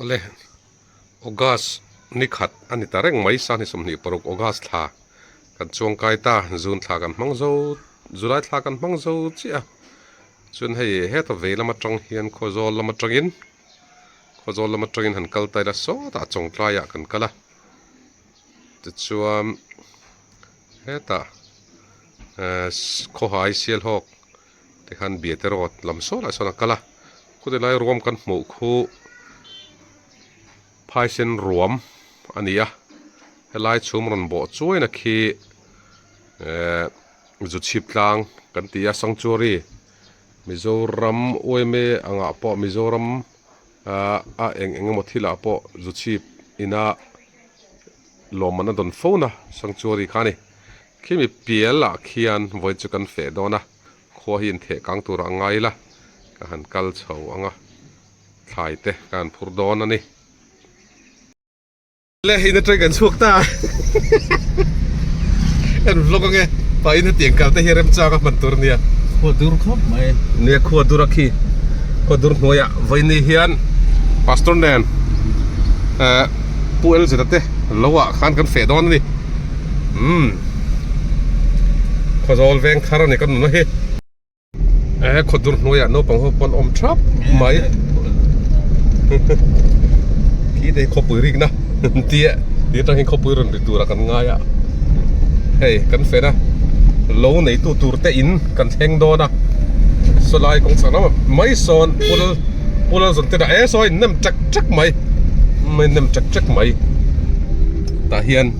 Awle, August nikhat a ni ta reng mai, Sangni sawmhnih paruk August thla kan chuang kai ta, June thla kan hmang zo, July thla kan hmang zo chiah a, chuan hei heta vei lam atang hian khaw zawl lam atangin, khaw zawl lam atangin han kal ta ila sawtah chawng tlaiah kan kal a, tichuan hetah khawhai sialhawk. Tikhan Biate Road lam saw lah sawn a kal a, khute lai ruam kan hmuh khu Phaisen ruam a ni a, helai chhum rawn bawh chuaina khi eeh Zuchhip tlang kan ti a, Sanctuary Mizoram uaime angah pawh Mizoram ah a eng engemaw thilah pawh Zuchhip ina lawmman a dawn fona Sanctuary kha a ni. Khimi pial ah khian vawi chu kan feh dawn a, khua hi intheh kang tur ah a ngai la, ka han kal chho ang a, thlai te ka han phur dawn a ni. Le in atang kan chhuak ta a, ka rawn vlog ang e, pa in hetiang kal te hi a rem chang a hman tur nia. Khua dur khawp mai. Nia khua dur a khi, khua dur hnuai ah vawi ni hian pastor nen, pu Elzeta te lo ah khan kan feh dawn a ni. umm khaw zawl veng thar a ni ka nuna hi eh khaw dur hnuaiah naupang ho pawn awm thap mai khi te hi khawpui rikna tia ti atang hian khawpui rawn rik tura kan ngai a hei kan fena lo neitu tur te in kan thleng dawn a saw lai kawng chak lamah mai sawn pula pula zawrh te dah esaw a innem trak trak mai innem trak trak mai tah hian--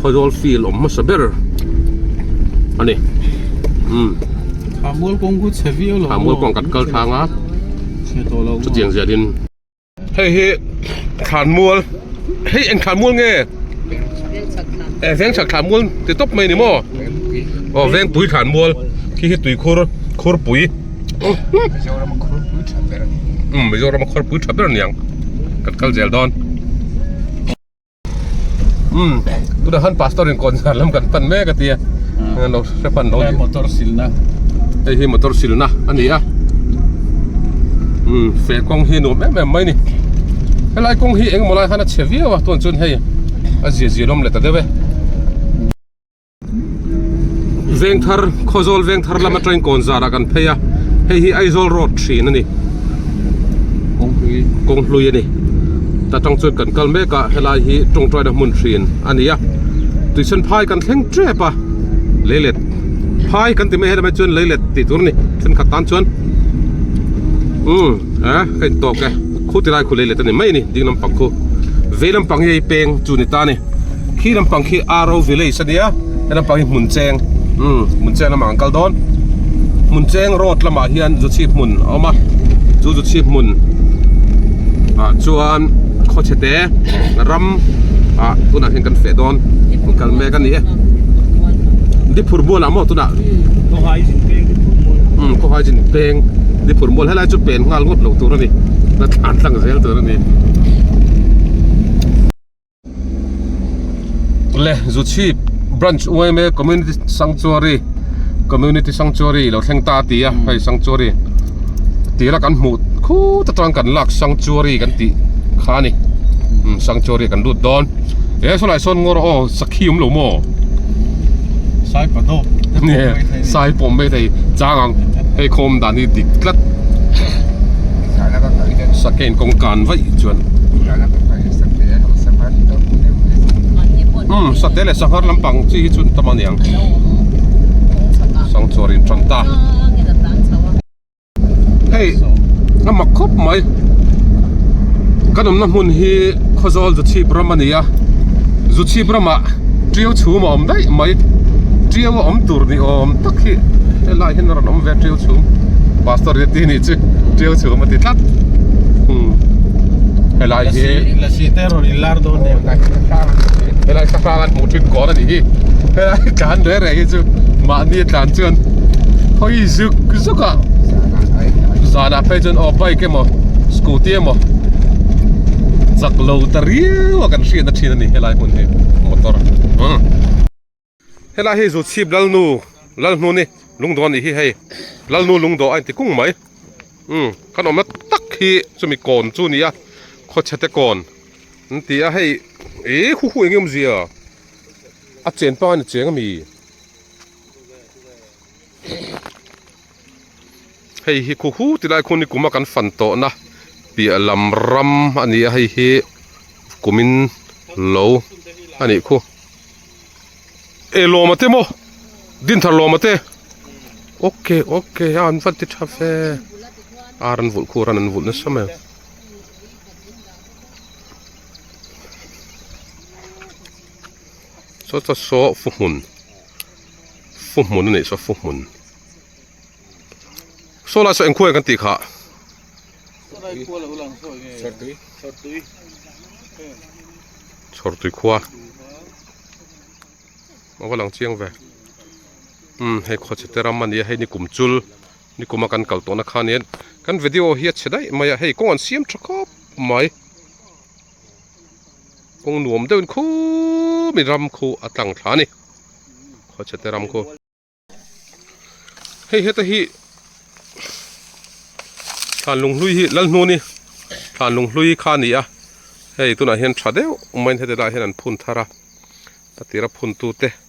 khawizawl feel awm hmasa ber a ni umm thahmual kawng chu chhe viau lo thahmual kawng kan kal thang a chutiang ziah in hei hi thlanmual hei eng thlanmual nge eh vengchhak thlanmual ti tawp mai a ni maw aw vengpui thlanmual khi hi tuikhur khurpui umm mizoram a khurpui tha ber a ni ang kan kal zel dawn. umm tunah khan pastor in kawn zar lam kan pan mek a tia engah lo hre pan lo tih motor silna hei hi motor silna a ni a umm fe kawng hi a nuam em em mai a ni helai kawng hi engemaw lai khan a chhe viau a tunah chuan hei a zia zia lawm leh ta deuh e. vengthar khawzawl vengthar lama train kawn zara kan phei a hei hi aizawl road thin a ni kawng hlui a ni ta tang chuan kan kal mek a helai hi tawngtaina hmun thin a ni a tuichhan phai kan thleng tep a lei let phai kan ti mai helai mai chuan lei let tih tur a ni thenkhat tan chuan umm a hei tawk e. Khuti lai khulei let a ni mai a ni, ding lampang khu. Vei lampang hi hei peng chu ni ta a ni. Khi lampang khi Aro village a nia, he lampang hi Hmuncheng, umm Hmuncheng lamah kan kal dawn. Hmuncheng road lamah hian zu chhip hmun a awm a, chu zu chhip hmun ah chuan Khawchhete ram ah tunah hian kan feh dawn, kan kal mek a ni e. Diphurhmual ah maw tunah? Khawhaizin peng, umm Khawhaizin peng, Diphurhmual helai. lai chu pen nghal ngawt lo tur a ni la thlan tlang zel tur a ni le zu chhip branch uaime community sanctuary community sanctuary lo thleng ta ti a hei sanctuary tira kan hmuh khu ta tang kan lak sanctuary kan ti kha ni sanctuary kan lut dawn e saw lai sawn ngawr aw khi awm lo maw sai pa dawh sai pawh mai thei chang ang hei khawm dan hi dik tlat sakain kawng kan vaih chuan um sate leh sanghar lampang chi hi chu tam aniang sangchhuar in tan ta. hei a mak khawp mai kan awmna hmun hi Khawzawl Zu Chhip ram a ni a Zu Chhip ramah ṭiau chhum a awm daih mai ṭiau a awm tur ni awm tak hi helai hian a rawn awm ve a ṭiau chhum pastor ria tih a nih chu ṭiau chhum a ti tlat umm helai hi lasi te rawn in lar dawn nen ang helai kha hrang an hmuh ṭhin kawl a nih hi helai tlan rei rei hi chu mahni a tlan chuan hawi zuk zuk-- chauka zanah phei chuan aw bike emaw scooty emaw chak lo ta riau a kan hriatna thin a ni helai hmun hi motor umm helai hi zu chhip lalnu lalhnuni lungdawn a nih hi hei lalnu lungdawn a inti kung mai umm kan awmna tak hi chumi kawn chu a ni a khawchhe te kawn an ti a hei ih hu hu eng nge awmzia a chen panga ni cheng a mi. hei hi khaw hu ti lai khaw ni kuma kan fan tawh na piah lam ram a ni a hei hi kum in lo a nih khaw eh lawm ate maw din thar lawm ate ok ok a han vat ti tha fe a ran vulh khu ran an vulh nasa mai. Fu hmun a nih saw fu hmun Saw lai saw eng khuaia kan tih kha Chhawr tui khua A va lang chiang ve umm hei khaw chhe te ram a nia hei ni kum chul ni kuma kan kal tawh na khan hian kan video hi a chhe daih mai a hei kawng an siam tha khawp mai. kawng nuam deuhin khum in ram khu a tlang thla a ni, khawchhete ram khu. Hei heta hi thlanlung hlui hi lalhnu ni thlanlung hlui kha ni a hei tunah hian tha deuh main hete lah hian an phun thar a a tira phun tu te.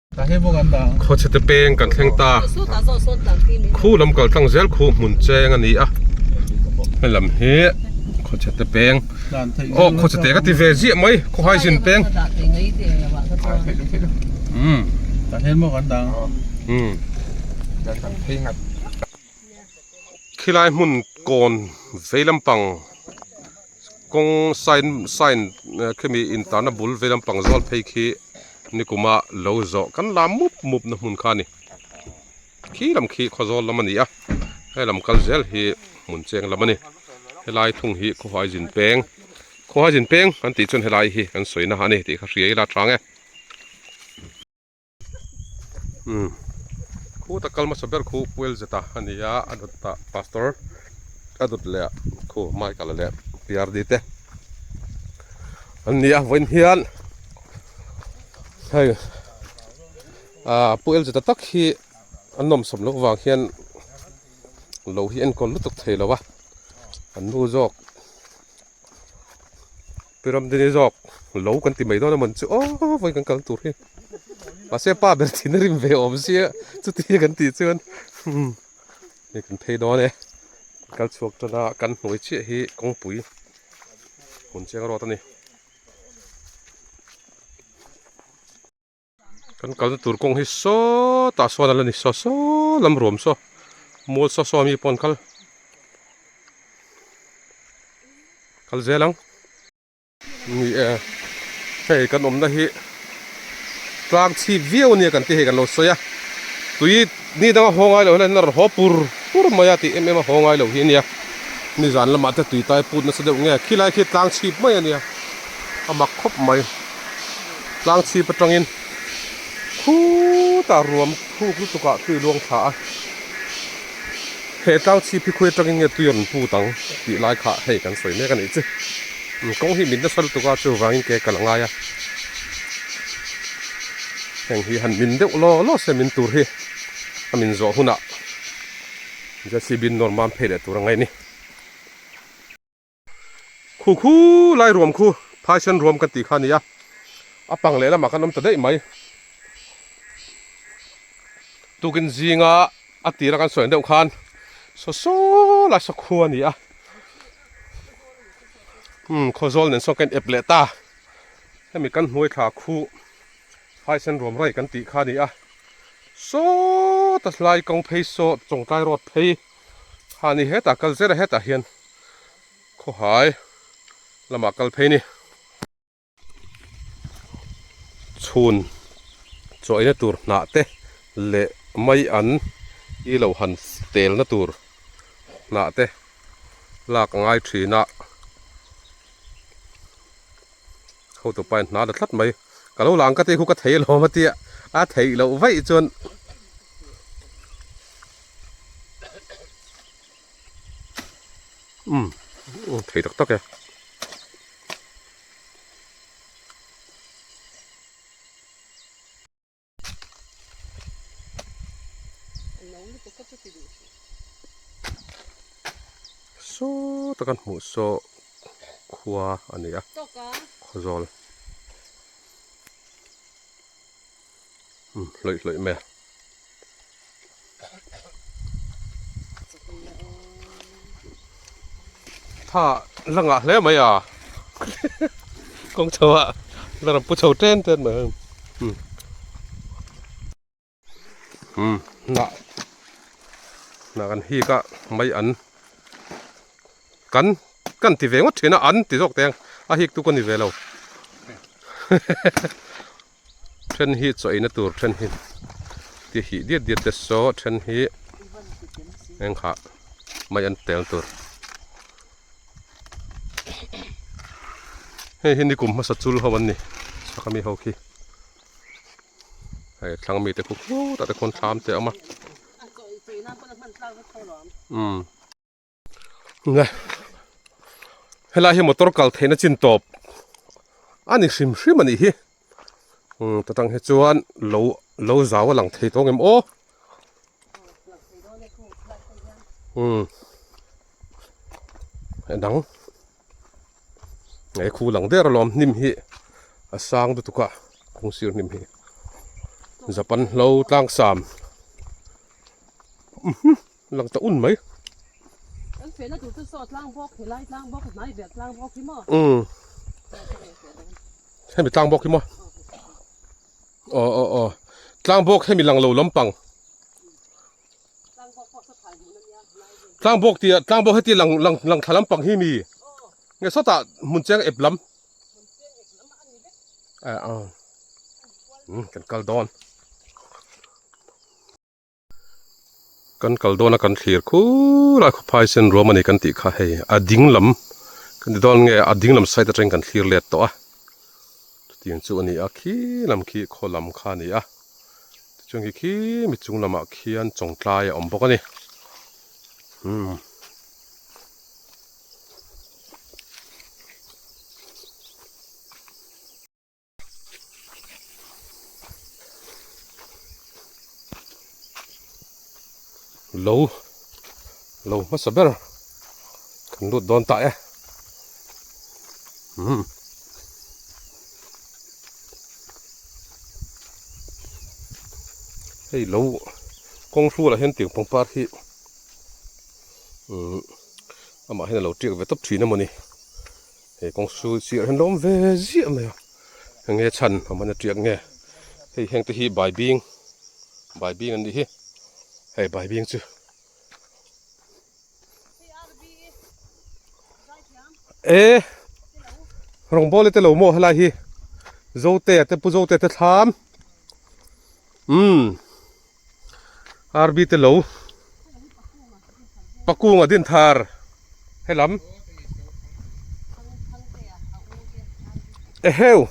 Khawchhete peng kan thleng ta a, khu lam kaltlang zel khu hmun cheng a ni a, helam hi khawchhete peng awh khawchhete ka ti ve ziah mai khawhai zin peng umm umm. khilai hmun kawn vei lampang kawng sign sign ah khemi intana bul vei lampang zual phei khi nikuma lo zawh kan la mup mup na hmun kha a ni khi lam khi khaw zawl lam a ni a helam kal zel hi hmun cheng lam a ni helai thung hi khawhai zin peng khawhai zin peng kan tih chuan helai hi kan sawi na a ni tih kha hria ila a tang e. umm khut a kal hmasa ber khu puel zeta a ni a a dawt a pastor a dawt leh ah khu michael leh prd te an ni a vawiin hian hei ah puel zeta tak hi an nawm sawm loh vang hian lo hi enkawl lutuk thei lo a an nu zawk. Piram dini zawk lo kan ti mai dawn a man chu aw vawi kan kal tur hi mahse pa ber thin a rim ve awm sia chuti hi kan ti chuan hmm hei kan phei dawn e kal chhuak tana kan hnuai chiah hi kawngpui hun cheng rawt a ni Kan kalna tur kawng hi sawtah sawn a la ni saw saw lam ruam saw mual saw saw a mi pawn kal kal zel ang ni e hei kan awmna hi tlang chhip viau ania kan tih hei kan lo sawi a tui ni danga haw ngai lo hian a rawn haw pur pur mai a tih em em a haw ngai lo hi ania ni zan lamah te tui tai putna se deuh nge khilai khi tlang chhip mai ania a mak khawp mai tlang chhip atangin khut a ruam khuk lutuk ah tui luang thla a he tlang chhip hi khawi atangin nge tui a rawn put ang tih lai kha hei kan sawi mek a nih chu kawng hi min nasa lutuk a chu vangin ke ka la ngai a heng hi han min deuh law law se min tur hi a min zawh hunah JCB nawr mam phei leh tur ang a ni. Khu khu lai ruam khu Phaisan ruam kan tih kha nia, a pang leh lamah kan awm ta daih mai. Tukin zinga a tira kan sawi ang deuh khan saw saw lai saw khu a ni a. Hmm, khaw zawl nen saw kan ep leh ta. Hemi kan hnuai thla khu Phaisan ruam rai kan tih kha nia. Saw ta lai kawng phei saw Chawngtlai road phei. ha ni heta kal zera heta hian khawhai lama kal phei ni chhun chawina tur hnah te leh mai an i lo han tel na tur hnah te lak ngai thin a ho tu pain hna la tlat mai ka lo lang ka te khu ka thei lo ma tia a thei lo vaih chuan umm umm thei tak tak e saw taka hmuh saw khua a ni a khaw zawl. hlawih hlawih mai a. Tha la ngah hle mai a. Kawng chho a la rawn pu chho ten ten mai. Hmm. Hmm. Na. Na kan hi ka mai an. Kan kan ti ve ngot thina an ti zawk teng. A hik tu ka ni ve lo. Then hi chaw eina tur then hi ti hih diat diat te saw then hi eng kha mai an tel tur hei hi nikum hmasa chul ho an ni saka mi ho khi hei thlang mi te khu khu ta te khawn thlam te awm a um Nge helai hi motor kal theihna chin tawp a ni hrim hrim a nih hi um tatang hi chuan lo lo zau a lang thei tawng em aw um a dang nge khu lang der alawm hnim hi a sang lutuk a kung sir hnim hi Japan hlo tlang sam uhu. Lang ta un mai. Kan fehna tur chu saw tlang bawk helai tlang bawk hnai ber tlang bawk hi maw. Um. Hemi tlang bawk hi maw. Oh oh oh. Tlang bawk hemi lang lo lampang. Tlang bawk tia tlang bawk heti lang lang lang thla lampang hi mi. Nge sawta hmun cheng ep lam. Eh ah. Hmm kan kal dawn. Kan kal dawn a kan thlir khur a khuphai sen ruam a ni kan tih kha hei a ding lam kan ti dawn nge a ding lam side atang kan thlir let tawh a chutiang chu a ni a khi lam khi khaw lam kha a ni a tichuan khi khi mi chung lamah khian chawngtlai a awm bawk a ni umm lo lo hmasa ber kan lut dawn tah e umm hei lo kawng hrulah hian tiang pangpar hi umm amah hian a lo tiak ve tawp thin a mawni. Hei kawng sul chiah hian lawm ve ziah mai a, eng nge chhan a man aṭiak nge? Hei hengte hi Baibing, Baibing an nih hi, hei Baibing chu e Rawngbawle te lo maw helai hi? Zotea te Pu Zotea te thlam umm. Army te lo pakunga din thar helam eheu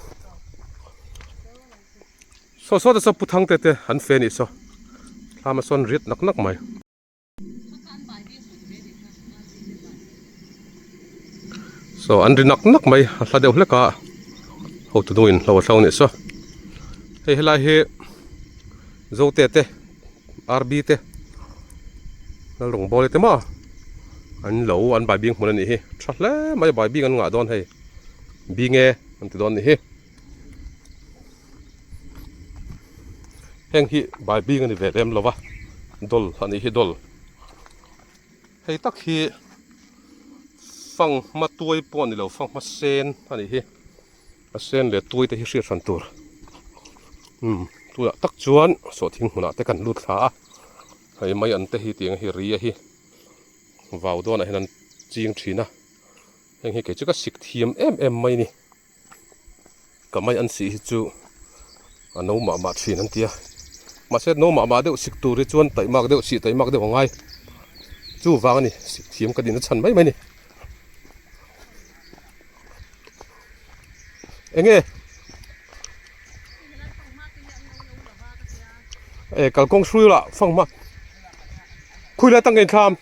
saw saw te saw pu thangte te an fe nih saw thlama sawn riat nak nak mai. Saw an ri nak nak mai a hla deuh hlek a ho tu hnung in hlo a hlo anih saw hei helai hi zote te RB te Lalrung bawle te mah an lo an bai bik hmun anih hi tha hle mai bai bik an ngah dawn hei bing e an ti dawn anih hi. heng hi bai bîng a ni ve lem lo va doll a nih hi doll hei tak hi fanghma tuai pawh a ni lo fanghma sen a nih hi a sen leh tuai te hi hriat hran tûr umm tunah tak chuan saw thing hmunah te kan lut thla a hei mai an te hi tiang a hi ri a hi vau dawnah hian an chîng ṭhin a heng hi kei cheka sikthiam em em mai a ni. Ka mai an sih hi chu a no mah mah thin an tia. Mahse no mah mah deuh sik tur hi chuan taih mak deuh sih taih mak deuh a ngai. Chu vang a ni, sik thiam ka din a chhan mai mai a ni. Enge? E kalkawng hrui la fang hma. Khui lai tang ka inthlam.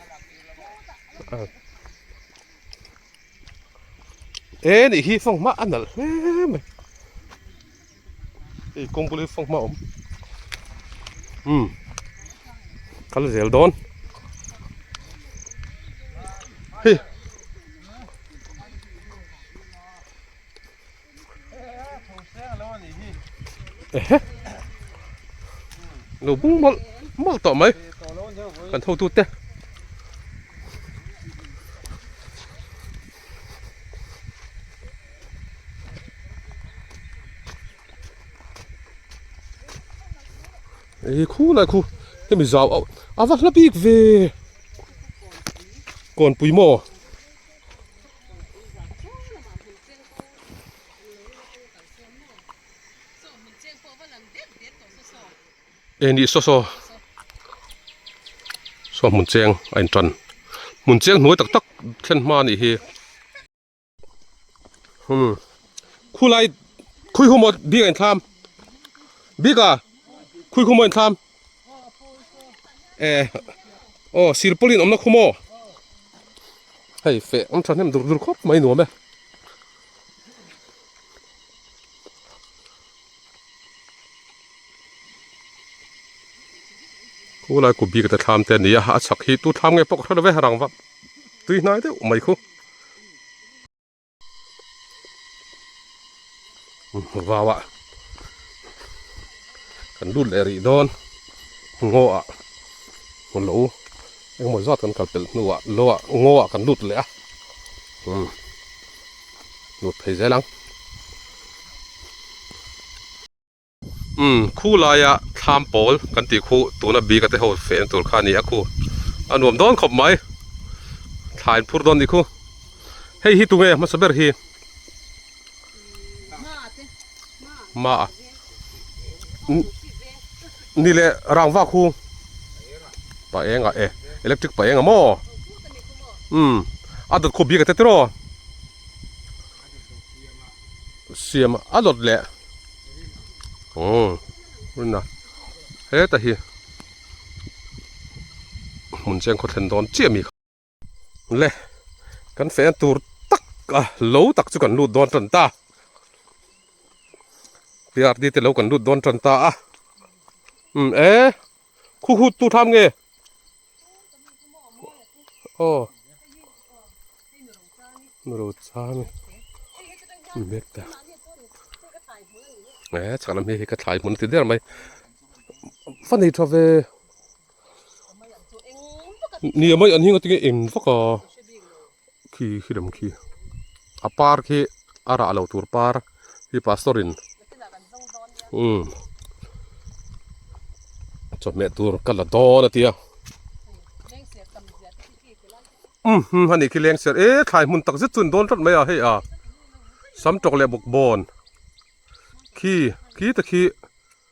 e nih hi fawng hmah a nalh hle mai hei kawng bul hi fawng hmah a awm umm ka la zel dawn hi. Ehe lo bung mawlh mawlh tawh mai kan hotu te ei khu lai khu hemi zau auh a va hla bik ve kawnpui maw. Eng nih saw saw saw hmun cheng a in tan hmun cheng hnuai tak tak thlen hma anih hi hmm khulai khawi humawt bik a in thlam bik ah khawi humawt a in thlam. eh aw silpauline awmna khaw maw hei feh awm thahnem dur dur khawp mai nuam e khulai kut bik ata thlam te a ni a a chhak hi tu thlam nge pawh ka hre lo e rangva tui hnai deuh mai khaw. vau ah kan lut leh rih dawn ngaw ah lo engemaw zat kan kalpelh hnu ah lo ah ngaw ah kan lut leh a umm lut phei zel ang. Umm khu laia thlam pawl kan tih khu tuna bik ate ho fehna tur kha nia khu a nuam dawn khawp mai thlain phur dawn nih khu hei hi tunge hmasa ber hi ma a ni leh rangva khu pa eng a e electric pa eng a maw umm a dawt khu bik ate tiraw. siam a lawt leh aww tunna heta hi hmun chiang khaw thlen dawn chiah mi kha le kan feh na tur tak a lo tak chu kan lut dawn tan ta prdt te lo kan lut dawn tan ta a um e. khu khu tu tham nge o mero cha mi mi mek ta e chhak lam hi ka thlai hmun ti der mai fa nei tha ve ni amawi an hing atin nge eng vak a. khi khi rem khi a par khi a rah lo tur par khi pastor in umm chawhmeh tur ka la dawn a tia umm hum a nih khi leng ser e thlai hmun tak zet chuan dawn tawt mai a hei a sam tawk leh bawkbawn khi khi ta khi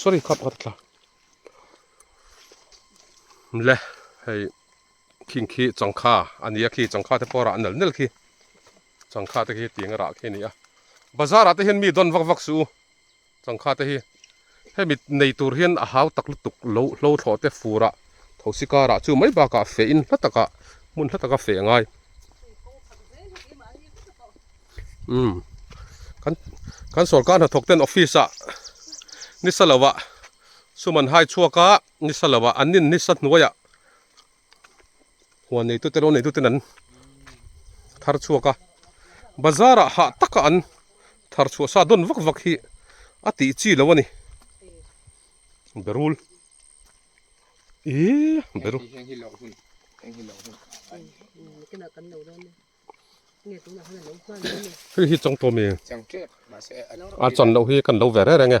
sorry khat khat thla le hei khing khi changkha ania khi changkha te pawh rah nal nal khi changkha te khi tiang rah khi ania bazar ah te hian mi don vak vak su Changkhate hi hemi nei tur hian a hau tak lutuk lo hlo thlawh te fur ah thosi kar ah chu mai bak ah feh in hla tak ah hmun hla tak a feh ngai umm kan kan sorkar hnathawk ten office ah ni sa lo ah suman hai chhuak ah ni sa lo ah an in ni sa hnuai ah huan nei tute lo nei tuten an thar chhuak a bazar ah hah taka an thar chhuah sa dawn vak vak hi a tih chi lo a ni berul i berul heng hi loh hun heng hi loh hun hei hi chang tawh mi a chan loh hi kan lo ve reng reng e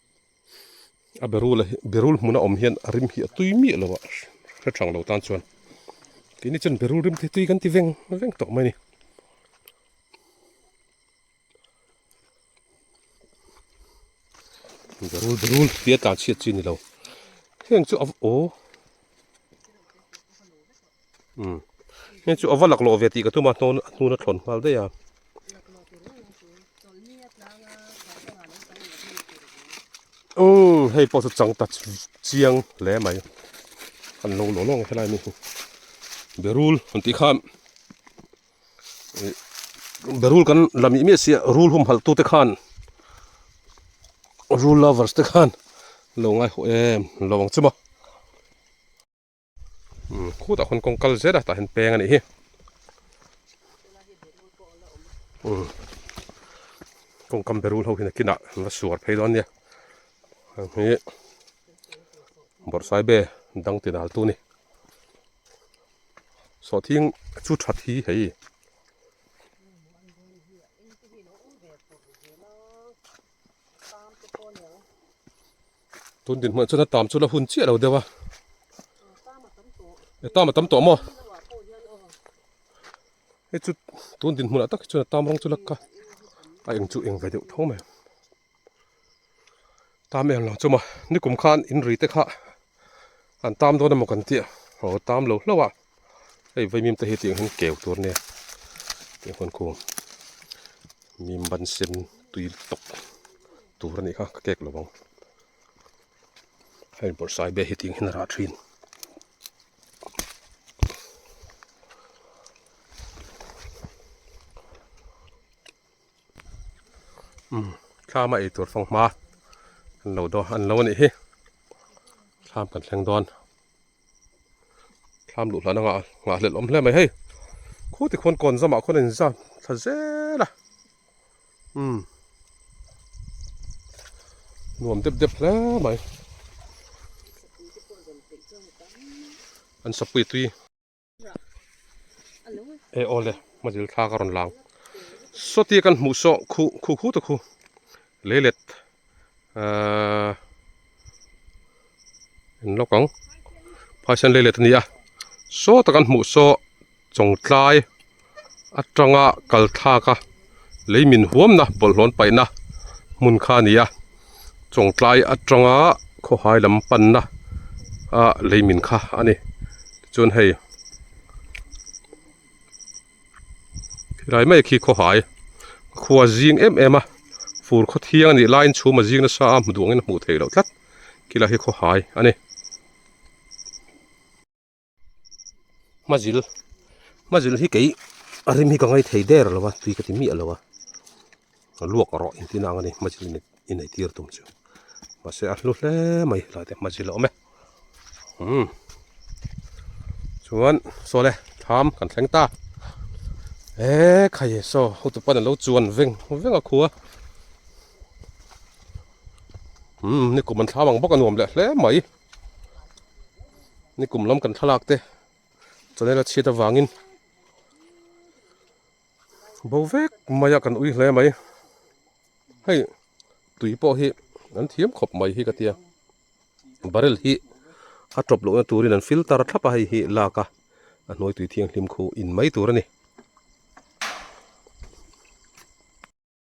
A berul a berul hmun a awm hian a rim hi a tui miah lo a hre thang lo tan chuan keini chuan berul rim te tui kan ti veng veng tawh mai a ni. Berul berul tia tlan chhiat chi a ni lo heng chu a aww. Umm heng chu ava laklawh ve tih ka tum a hnawn a hnuna thlawn nghal daih a. Umm hei pawh chu chang ta chiang hle mai a lo lawh lawng ang helai mi hi berul han tih khan berul kan la mih miah si a rul humhalh tute khan rul lovers te khan lo ngaihawh em lo ang chu maw. khutah khawn kawng kal zet a tah hian peng a nih hi um kawng kam beru hlo hi nakinah an va suar phei dawn nia heng hi bawrhsai be dang tinal tu ni saw thing chu tha thi hei Tun din hmanh chuan a tam chu la hun chiah lo deuh a. E tam a tam tawh maw? Hei chu tun din hmunah tak hi chuan a tam rawng chu la ka a eng chu eng ve deuh thung mai. Tam em lo chu maw? Nikum khan in ri te kha an tam dawn emaw kan tih a, aw tam lo hlauh a. Hei vaimim te hi tih ang hian keu tur nia tih huan khung mim ban sen tui tawk tur a nih kha ka kek lo vang hei bawrhsai bia hi tih ang hian a rah thin umm thlama ei tur fanghma an lo dawn an lo a nih hi thlam kan thleng dawn. Thlam luh hlan anga nghah hlelh awm hle mai hei. Khu ti khawn kawn zamah khawn a in zam thla zel a. Umm. Nuam dep dep hle mai. An sapui tui. e aw le hma zil thlak a rawn lang sawtia kan hmuh saw khu khu khu te khu lei let ahh en lawk ang phaisan lei let a ni a sawta kan hmuh saw chawngtlai. atanga kalthaka lei min huamna bawlhnawn paihna hmun kha a ni a chawngtlai atanga khawhai lam panna a lei min kha a ni chuan hei khilai mai khi khawhai a khua zing em em a fur khaw thiang a nih laiin chhum a zing nasa a duangin a hmuh theih loh tlat khilai hi khawhai a ni. Hmazil hmazil hi kei a rim hi ka ngaih thei der lo va tui ka ti miah lo a ka luak rawh in tih nang a ni hmazil inei tir tum chu mahse a hlu hle mai tlai te hmazil a awm e umm chuan saw le tham kan thleng ta he khai e saw hutu pan an lo chuan veng veng a khua umm ni kum an thlam ang bawk a nuam leh hle mai. ni kum lam kan thlalak te chanel a chhiat avangin bo vek maia kan ui hle mai hei tui pawh hi an thiam khawp mai hi ka tia barrel hi a tawp lohna turin an filter a thlap a hei hi lak a a hnuai tui thianghlim khu in mai tur a ni.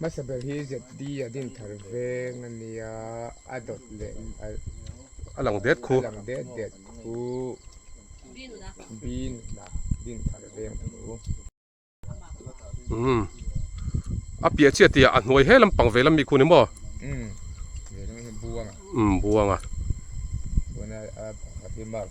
Hmasa ber hi ZD a din thar veng a nia, a dawt leh a a lang det khu, a lang det det khu, Binuna din thar veng a ni u. Umm a piah chiah tih ah a hnuai he lampang vei lam mi khu ni maw? Umm vei lam hi buang a, umm buang a, tuna a pakhat hi Mark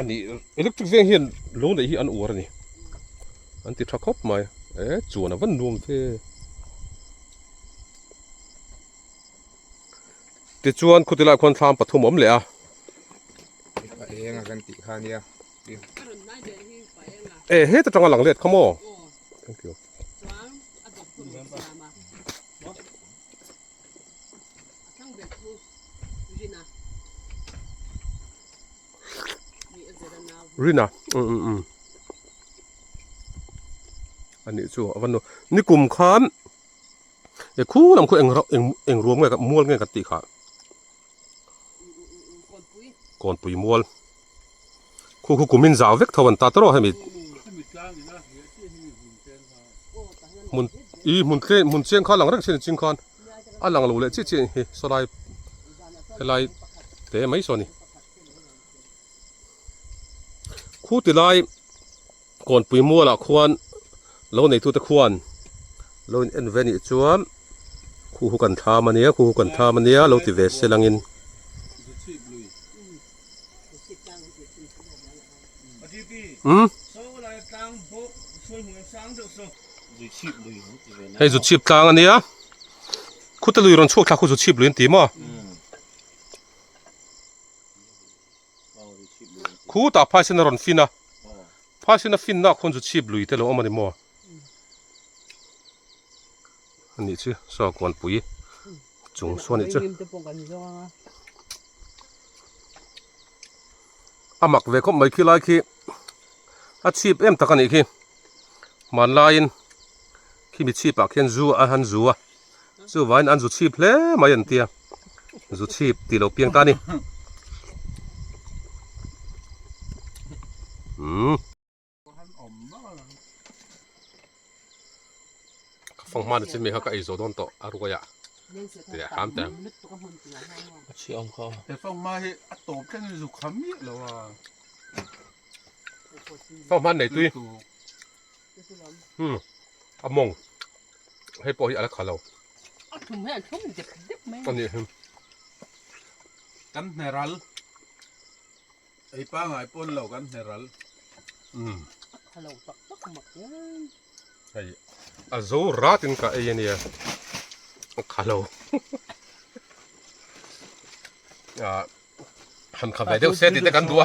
ani electric veng hian lo neih hi an uar ani an ti tha khawp mai e chuan a van nuam fe ti chuan khuti lai khuan thlam pathum awm leh a enga kan ti khan nia e he ta tanga lang let khamo thank you Rin ah umm umm umm a nih chu a va nawm ni kum khan he khung lam khaw eng rah eng eng ruam nge mual nge kan tih kha Kawnpui mual. Khu khu kumin zau vek tho an ta tawrh a hemi hmun ih hmun tlem hmun chiang kha a lang reng chin a ching khan a lang lo leh chiah chiah a ni hi saw lai helai te mai saw a ni khu ti lai. Kawnpui mualah khuan lo neitute khuan lo in en ve nih chuan khu hu kan thlam a nia, khu hu kan thlam a nia lo ti ve sel angin. Umm. Hei zu chhip tlang a nia, khute lui rawn chhuak thlak khu zu chhip lui an ti maw? Khu tah phaisena rawn fin a, phaisena finna khawn chu chhip lui te lo awm a ni maw? A nih chu, Sakuanpui chung saw a nih chu. A mak ve khawp mai khi lai khi a chhip em tak a nih khi. Hmanlaiin. Khimi chhipah khian zu a han zu a, chuvain an zu chhip hle mai an tia, zu chhip tih lo piang ta a ni. Umm. Ka fang hmana chin mai kha ka ei zo dawn tawh a ruai ah ti leh hram teh ang. A chhia awm kha. He fang hma hi a tawp tleng in zuk ham miah lo a. Fang hman nei tui. a mawng hei pawh hi a la kha lo a nih hi kan hne ral ei pangai pawn lo kan hne ral hei a zo rat in ka ei a nia a kha lo han kha ve deuh se tih te kan duh a.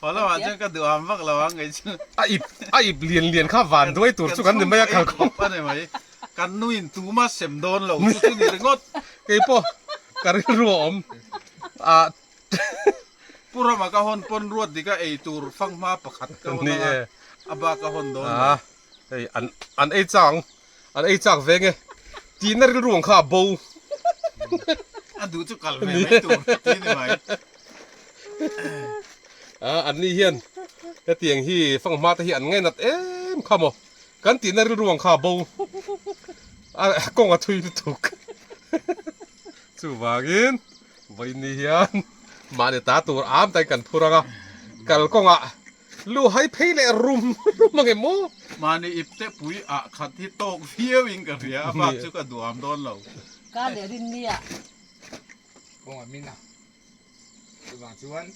Paw lamah chuan ka duham vak lo ang kei chu. A ip a ip lian lian kha van duai tur chu kan ni mai a kal khawp. Kan chhung em mai. Kan nu in tuma sem dawn lo chu chu ni ringawt. Kei pawh ka rilru a awm ah. Pu Rama ka hawn pawn ruat dik a ei tur fanghma pakhat ka hawn ang a, a bak a hawn dawn lo. Hei an an ei chang ang. An ei chak ve nge. Tihna rilru ang kha a bo. A duh chu kal ve mai tur a ti ni mai. A, anni hian hetiang hi fanghma te hi an ngainat em kha maw. Kan tihna rilru ang kha a bo. A kawng a thui lutuk. Chuvangin vawiin ni hian mahni ta tur am tain kan phur ang a. Kal kawngah. Lu hai phei leh rum rum a nge maw? Mahni ip te pui ah khat hi tawk viau in ka hria, a bak chu ka duam dawn lo. Kar leh rin ni ah. Kawng a min a, chuvang chuan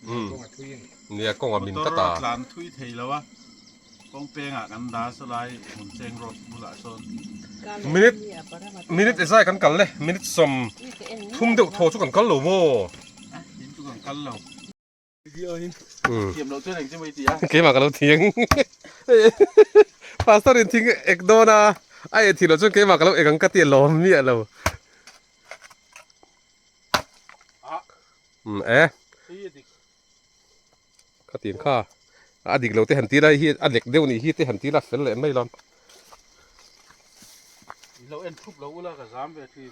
nia kawng a thui a ni. Nia kawng a min ta ta. Motor a tlan thui thei lo a, kawng peng ah kan dah saw lai hmun cheng road bulah sawn. Kar leh rin ni ah param a tawk a. Minute ezai kan kal le, minute sawm thum deuh thaw chu kan kal lo maw? A, tin chu kan kal lo. keimah ka lo thiang pastor in thing ek dawn a a eh thih loh chuan keimah ka lo ek ang ka ti alawm miah lo um eh ka tin kha a dik lo te han ti la hi a lek deuh nih hi te han ti la fel leh mai lo lo en thup lo ula ka zam ve thin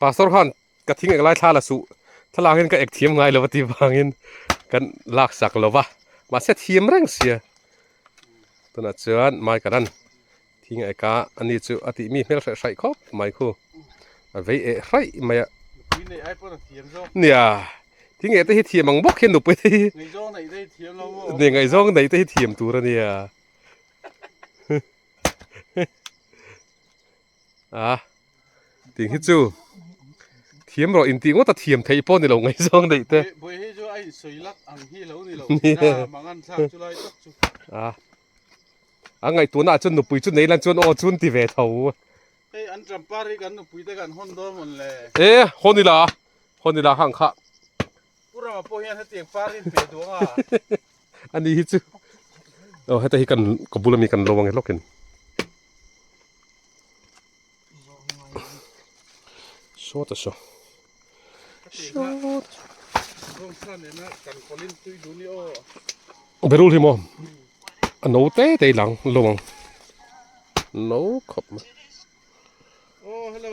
Pastor khan ka thing ek lai thla la suh thlalak in ka ek thiam ngai lo va ti vangin kan lak sak lo va mahse thiam reng sia tunah chuan mai ka ran thing a eka ani chu a tih mi hmel hreh hraih khawp mai khu a vei eh hraih mai a nia thing eh te hi thiam ang bawk hi nupui te hi ngaizawng neih te hi thiam lo maw nia ngaizawng neih te hi thiam tur a nia. a tih hi chu thiam rawh intih ngawt a thiam theih pawh nilo ngaih zawng daih te buai hi chu a insawi lak ang hi lo nilo mangan thlak chu lai tak chu a a ngaih tuna chu nupui chu neilan chuan aw chun ti ve tho hei an champar hi kan nupui te kan hawn dawn mawn le e hawnila hawnila hang kha Pura pawh hian heti ang par in pe duang a. Ani hi chu. Oh heta hi kan ka bula mi kan lo ange hlawkin. Saw ta saw. Saw. Rong sa ne na kan kolin tui du ni o. Berul hi mo. Ano te te lang lo ang. No khop. Oh hello.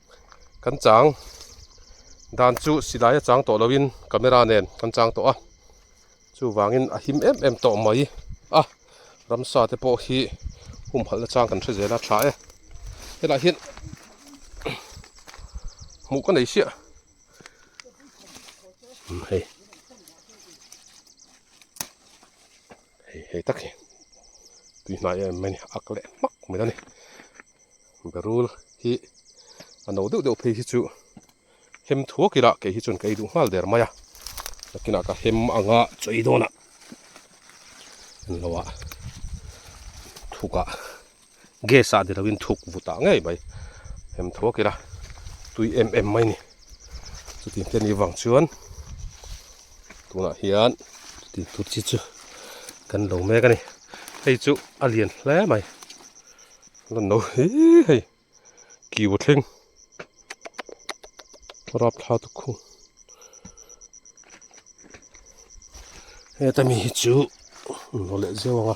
kan chang dan chu silai a chang tawh lo in camera nen kan chang tawh a chuvang in a him em em tawh mai a ramsa te pawh hi hum halh na chang kan hre zel a tha e he lah hian hmuh ka nei hriat a. hei hei tak hi tui hnai em mai a ni a ak leh hmak mai a ni barul hi a no deuh deuh phei hi chu hem thuak ila kei hi chuan ka ei duh nghal der mai a nakinah ka hem ang a chawi dawnah englo a thuk ah. gas ah ni lo in thuk vut ah ngei mai em thuak ila tui em em mai ni chutin te ni vang chuan tunah hian chuti tur chi chu kan lo mek a ni hei chu a lian hle mai lan lo hi hei kiu thleng rap thla tu khu heta mi hi chu nawh leh zeuh ang a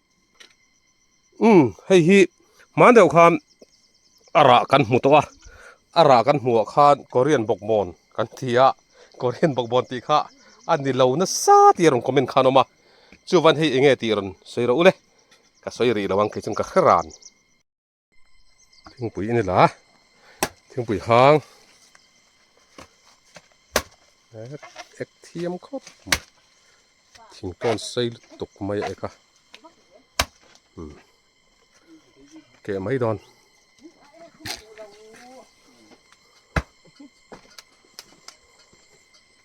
Umm hei hi hmang deuh khan a rah kan hmu tawh a a rah kan hmuh ah khan Korean bawkbawn kan ti a Korean bawkbawn tih kha a ni lo nasa tih a rawn comment khan a awm a chu'van hei eng nge tih rawn sawi rawh u le ka sawi rih lo ang kei chuan ka hre ran. thingpui a ni la thingpui hang ek thiam khawp mai thing tawn sei lutuk mai a eka hmm. keh mai dawn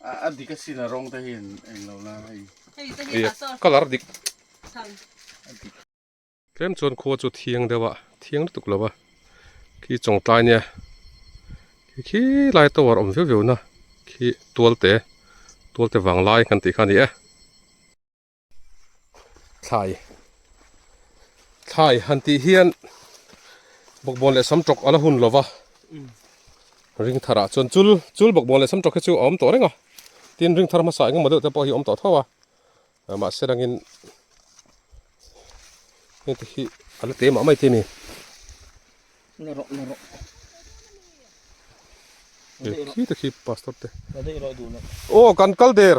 a dik a sin a rawng te hian eng lo la hei hei te hi ta saw color dik chhan a dik tlem chuan khua chu thiang deuh a thiang lutuk lo va khi chawng tlai nia khi khi lai tower awm viau viau na khi tual te tual te vang lai kan tih kha ni e. thlai thlai han tih hian bawkbawn leh sam tawk a la hun lo va ring thar ah chuan chul chul bawkbawn leh sam tawk hi chu a awm tawh reng a tin ring thar hmasa engemaw deuh te pawh hi a awm tawh tho a ah, mahse rangin heti hi a la te mah mai te ni na ro na ro khi te khi pastor te ô kan kal der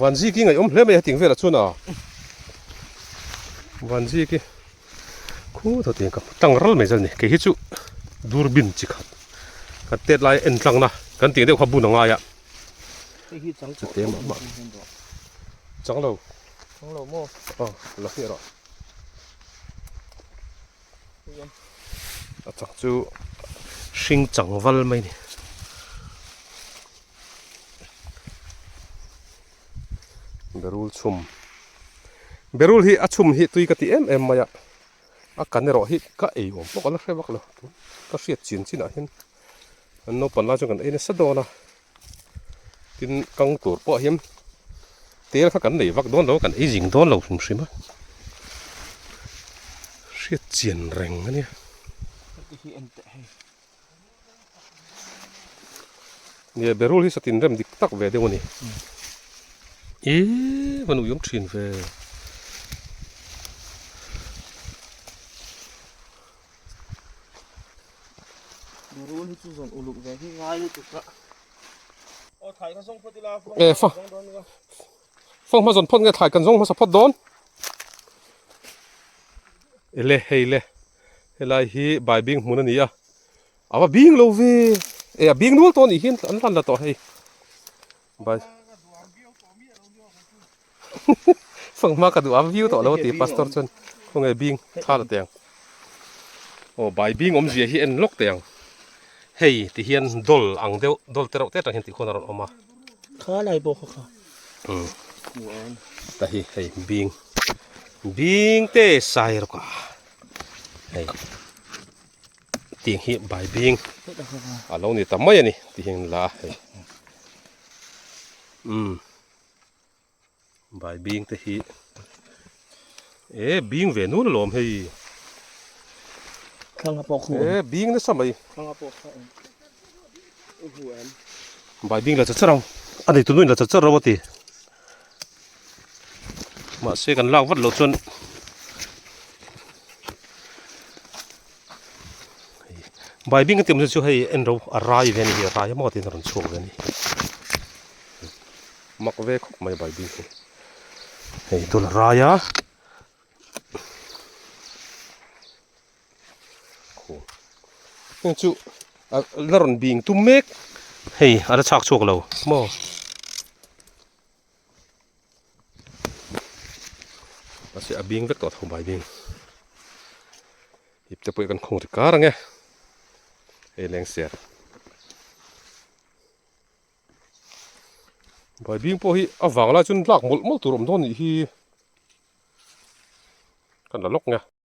Van Zik hi ngaiawm hle mai a ting velah chuan a Van Zik hi khu tho tiang ka hmu tang ral mai zan ni kei hi chu durbin chi khat ka tet lai en tlang na kan ting deuh kha bun a ngai a hei hi chang chu te mah mah chang lo chang lo mo a la hriat a a chang chu hring chang val mai a ni berul chhum berul hi a chhum hi tui ka ti em em mai a a kan erawh hi ka ei awm bawk a la hre vak lo ka hriat chin chin ah hian an naupang lai chuan kan ei nasa dawn a. tin kang tur pawh hian tel kha kan nei vak dawn lo a kan ei zing dawn lo hrim hrim a hriat chian reng a nia nia berul hi satin rem dik tak ve deuh a ni i va nuih awm thin ve Nurul hi chu zawng uluk ve hi ngai lutuk ka. O thlai ka zawng phawt ila. E fa. Fa ma zawng phawt nge thlai kan zawng hmasa phawt dawn. Ele hei le. Helai hi bai bing hmun ani a. Awa bing lo ve. E a bing nual to ni hin an hlan la to hei. Bas Sangma ka duh ang viu tawh lo ti pastor chuan khaw nge bing tha la teng aw bai bing awm zia hi en lawk teh ang hei ti hian dawl ang deuh dawl te reuh te tang hian tih khawn a rawn awm a kha lai pawh khaw kha ta hi hei bing bing te sai rawk a hei Tih hi bai bing a lo ni ta mai a ni tih hian la a hei umm bai bing te hi e bing ve nul alawm hei thlanga pawh khu e bing nasa mai thlanga pawh kha awm u hu em bai bing la char char ang a nei tu nu in la char char lo a ti. mahse kan lak vat loh chuan bai bing ka ti awm chu hei en ro a rai ve a ni hi a rai maw tiin a rawn chhuak ve a ni mak ve khawp mai bai bing hi hei tun a rai a. heng chu la rawn bing tum mek hei a la chhak chhuak lo maw mahse a bing vek tawh a tho bai bing ipte pawh i kan khawng ri kar ang e hei leng ser bai bing pawh hi a vang lai chuan lak mawlh mawlh tur awm dawn nih hi kan la lawk nia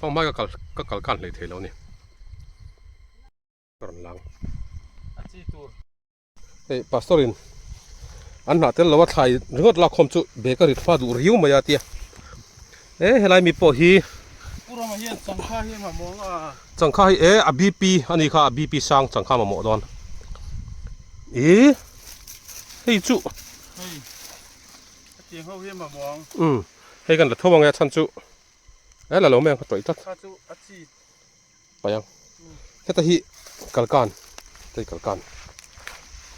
Hmang hmai ka kal ka kal kan hlei thei lo ni Karon lang Hei pastor in an hnah tel lo a thlai ringawt lak khawm chu bag a rit hma duh riu mai a tia He helai mi pawh hi Purama hian changkha hi mamawh ang a. Changkha hi e a BP a ni kha a BP sang changkha mamawh dawn i hei chu hei a tiang ho hi mamawh ang um hei kan la tho ange a chhan chu e la lo mai ang kha tawih tlat kha chu a chi. Paiang heta hi kalkan heta hi kalkan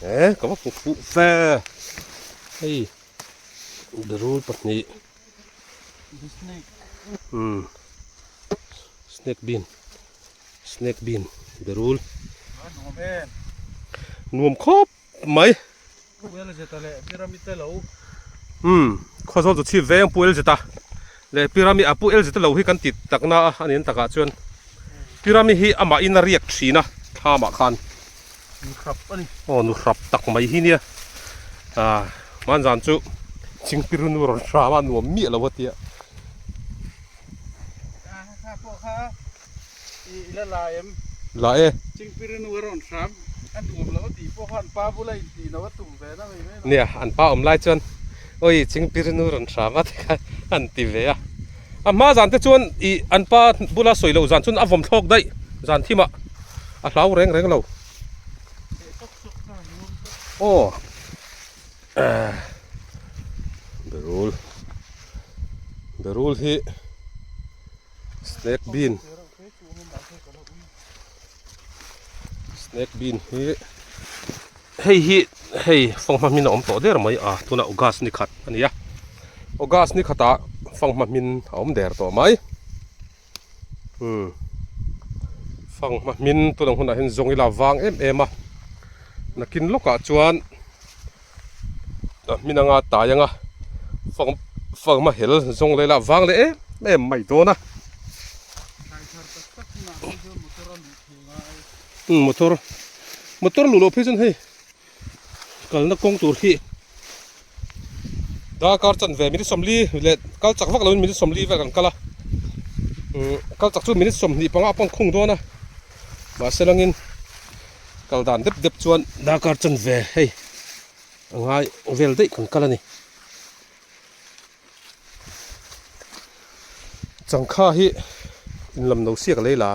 e ka va pawh fuh fe hei berul pahnih um snake bin snake bin berul nuam khawp. Mai. Pu Elzeta leh Pyramid te lo. Umm, khawzawl chu chhip veng Pu Elzeta leh Pyramid a Pu Elzeta lo hi kan ti tak na a, a ni ang takah chuan Pyramid hi amah in a riak thin a tha mah khan. Nu hrap a ni. Aw, nu hrap tak mai hi nia. Aah, mahn zan chu Chingpirunu rawn hram a, nuam miah lo a tia. Aah, kha pawh kha Nia an pa awm lai chuan awi chingpirinu rawn hram a tikah an ti ve a a hma zan te chuan ih an pa bula sawi loh zan chuan a vawm thlawk daih zan thim ah a hlau reng reng lo aw Berul Berul hi. Snake bean Snake bean hi Hei hi hei fanghma hmin a awm tawh der mai a tuna August ni khat a ni a August ni khata fanghma hmin a awm der tawh mai hmm fanghma hmin tunang hunah hian zawngila vang em em a nakin lawkah chuan a hmin anga tai anga fang fanghma hel zawng lela vang leh em em mai dawn a hmm motor motor luh loh phei chuan hei kalna kawng tur hi darkar chanve minute sawmli leh kal chak vak loin minute sawmli vel kan kal a hmm kal chak chu minute sawmhnih panga a pawng khung dawn a. Mahse langin kal dan dep dep chuan darkar chanve hei a ngai vel daih kan kal a ni. Changkha hi in lam lo siak lei la.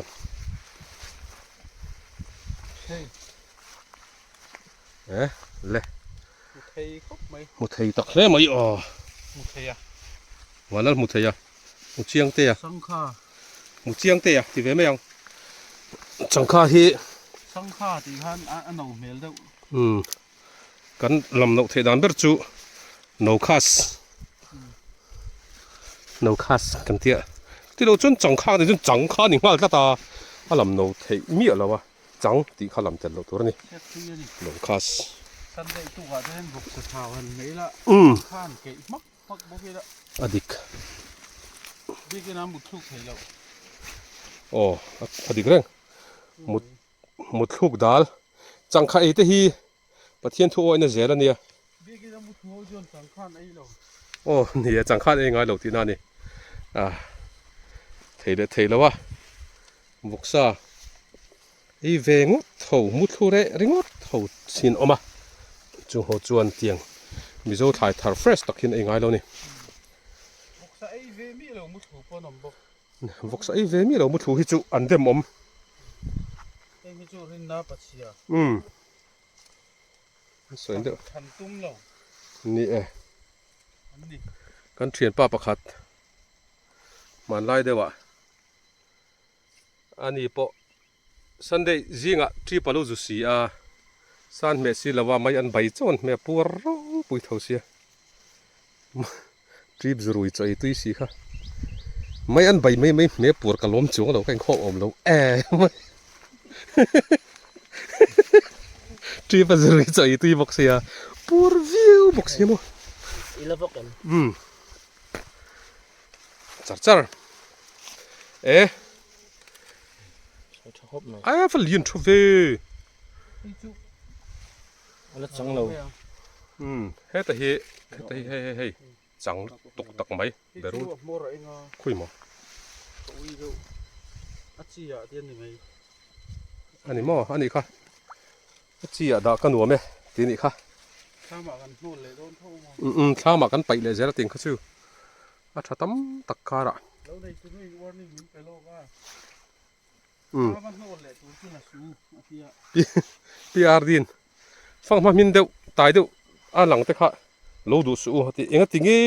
Eh le. Hmu thei khawp mai. Hmu thei tak hle mai aw. Hmu thei a. Huan lal hmu thei a. Mu chiang te a. Sangkha. Mu chiang te a ti ve mai ang. Sangkha hi. Sangkha tih khan a no hmel deuh. Um. Kan lam no thei dan ber chu no khas. No khas kan tia. Ti lo chun chang kha ni chun chang kha ni nghal tlat a. A lam no thei miah lo a. Chang tih kha lam tel lo tur a ni. No khas. Kan dei tuk ah te hian buk ka thau han hmel a. Um. Khan keih hmak. a dik aw a dik reng mut mutthluk dal changkha ei te hi pathian thu awihna zel ania aw ni a changkhan ei ngailo tihna ani a thei leh thei lo a vawksa. I ve ngawt tho, muthlu reh ringawt tho chin awm a, chu ho chuan tiang Mizo thlai thar fresh tak hian ei ngai lo ni. Vox a ei ve mi lo muthlu paw'n awm bawk. Vox a ei ve mi lo muthlu hi chu an dem awm. Hei hi chu rinna pachhia. Umm. An sawi deuh. Than tum lo. Ni e. An ni. Kan thianpa pakhat hmanlai deuhah. A ni pawh Sunday zingah trip a lo zu si a, san hmeh si lova mai an bai chuan hmeh puar rau pui tho sia. Trip zu rui chaw ei tui si kha. Mai an bai mai mai hmeh puar ka lawm chuang lo ka inkhawm awm lo em. Trip a zu rui chaw ei tui bawk sia. Puar viau bawk sia maw. I la bawk em. Um. char char e a fa lian thu ve ala chang lo um he ta hi he ta hi hei hei chang tuk tak mai beru khui maw a chi ah dian ni mai a ni maw a ni kha Ka chi ah dah ka nuam e ti nih kha. Thlam ah kan hnawl leh dawn tho maw. Um um thlam ah kan paih leh zel atin kha chu. A tha tam tak kar ah. Lo nei tu nuih warning min pe lawk a. Thlam a hnawl leh tur chu na su a ti a. PRD in fang hma hmin deuh tai deuh a lang te kha lo duh suh u a ti. Enga ti nge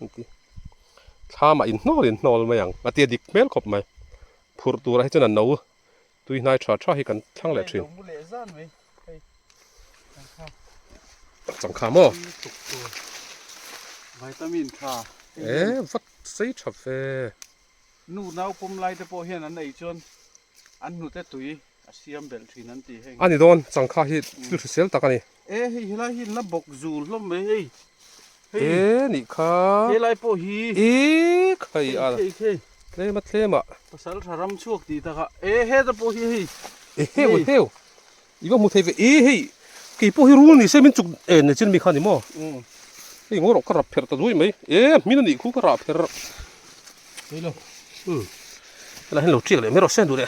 an ti. Thlam ah in hnawl in hnawl mai ang a ti a dik hmel khawp mai. Phurh tur ah hi chuan an no Tui hnai tha tha hi kan thlang leh thin. Changkha maw? Vitamin tha. E vat sei tha fe. Nu nau pum lai te pawh hian an ei chuan an hnute tui a siam belh thin an ti heng. Ani dawn changkha hi thil hrisel tak a ni. E hei helai hi na bawk zul hlawm mai hei. Te nih kha. Helai pawh hi. E khai a. Khei khei khei. Tlem a tlem a. Pasal tha ram chhuak tih tak a. E he te pawh hi hei. E heu e heu. I va hmu thei ve e hei. Kei pawh hi rul ni se min chuk e ni chin mi kha ni maw. Hei ngaw rawh ka rap pher ta duai mai. E hmin a nih khu ka rah pher. Hei lo. Helai hi lo chiak leh mai rawh se duh le.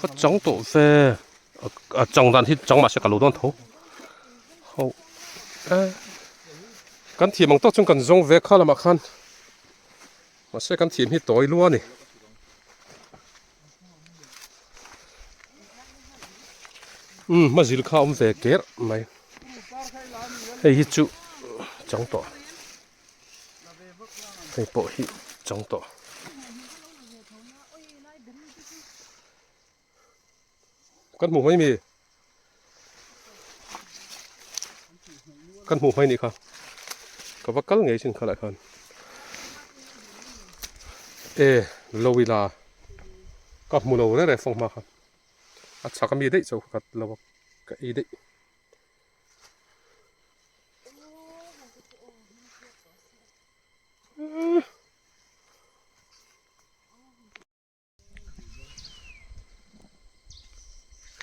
Ka chang tawh fe a chang dan hi chang mahse ka lo dawn tho ho e kan thiam ang tawk chuan kan zawng ve kha lamah khan mahse kan thiam hi tawi lua ni um mazil kha awm ve ker mai hei hi chu chang tawh hei pawh hi chang tawh kan hmuh mai mi kan hmuh mai ni kha ka va kal ngei chin kha lah khan e lo ila ka hmu lo re re fawng hma kha a chhak a mi daih chauh khat lo ka ei daih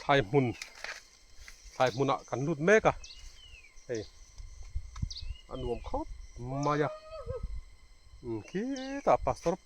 thlai hmun thlai hmunah kan lut mek a hei a nuam khawp mai a khitah pastor --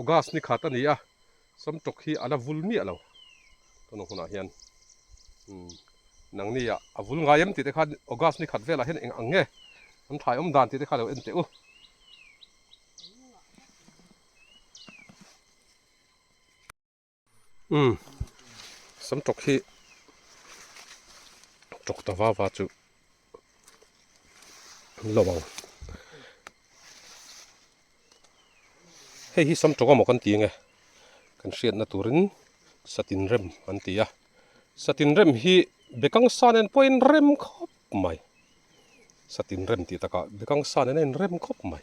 August ni khat a ni a, sawm tawk hi a la vul miah lo. Tun hunah hian Nangnia a vul ngai em tih te kha August ni khat velah hian eng ang nge an thlaiawm dan tih te kha lo en teh u. Umm sam tawk hi tawk ta va va chu an lo ang hei hi sam tawk emaw kan ti nge kan hriatna turin satin rem an ti a satin rem hi bekang sa nen pawh a inrem khawp mai satin rem tih takah bekang sa nen a inrem khawp mai.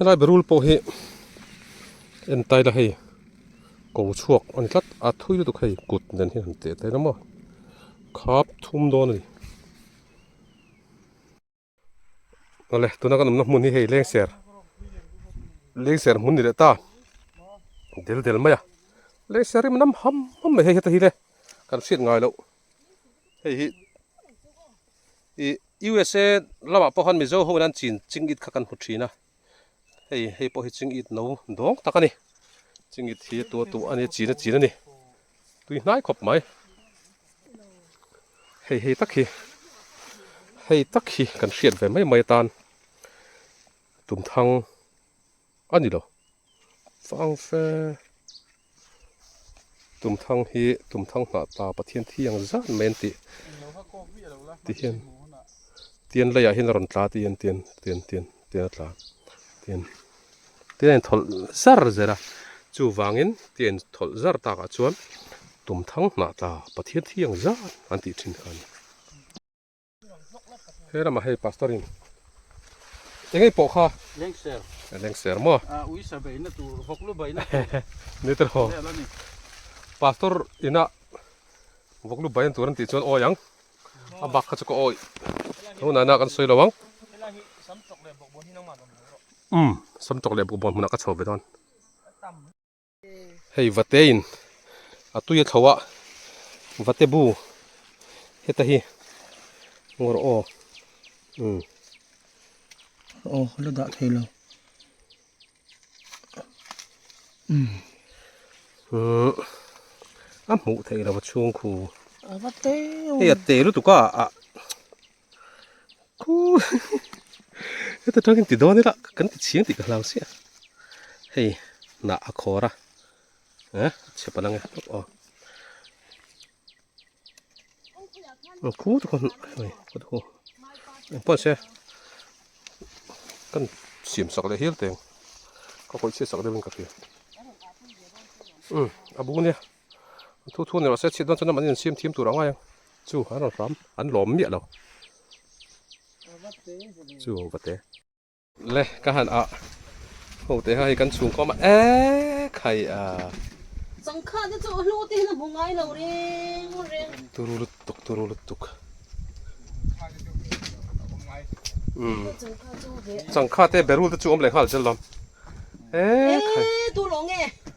Helai barul pawh hi entai la hei ko chhuak a ni tlat a thui lutuk hei kut nen hi han teh ta ila maw khap thum dawn a ni a le tuna kan awmna hmun hi hei lengser lengser hmun a ni leh ta del del mai a lengser rim lam ham ham mai hei heta hi le kan hriat ngai loh. hei hi i usa lamah pawh khan mizo ho hian chin ching it kha kan hmu thin a hei hei pawh hi ching it no dawng tak a ni ching it hi tua tawh a ni chin a chin a ni tui hnai khawp mai hei hei tak hi hei tak hi kan hriat ve mai mai atan tumthang a ni lo. Fang fe tumthang hi tumthang hnah ta Pathian thiang zat mai an tih tihian tian laiah hian a rawn tla tihian tian tian tian tian a tla tian tian in tholh zar zera chu vangin tian in tholh zar takah chuan tumthang hnah ta Pathian thiang zat an tih thin kha a ni. He ramah hei pastor in enge po kha leng ser leng ser mo a ui sa be na tu hok lu bai na ni ter ho pastor ina vok lu bai an tur an ti chuan oi ang a bak kha chu ko oi ho na na kan soi lo ang sam tok le bok bon hi nang ma um sam tok le bok bon hmuna ka chho ve don Hei vate in a tui a thlo a vate bu heta hi ngawr aw umm aw la dah thei lo umm umm a hmuh theih lo a chhungkhu a va te a hei a te lutuk a ah. Heta tangin ti dawn ila kan ti chiang ti ka hlau sia hei na a khawra ha che pa lang o ang khu tu kan hei ka thu ang pa se kan siam sak le hil teng ka khoi che sak deuh in ka hria um a bu nia thu thu ni lo se chhit dawn chuan a man in siam thiam tur ang ai ang Chu a rawn hram an lawm miah lo chu ho vate le ka han a ho te ha hi kan chhung khawm a e khai a changkha te chu hlu te hian a hmu ngai lo reng reng turu lut tuk turu lut tuk um changkha te berul te chu awm leh nghal zel lo e khai e tu lo nge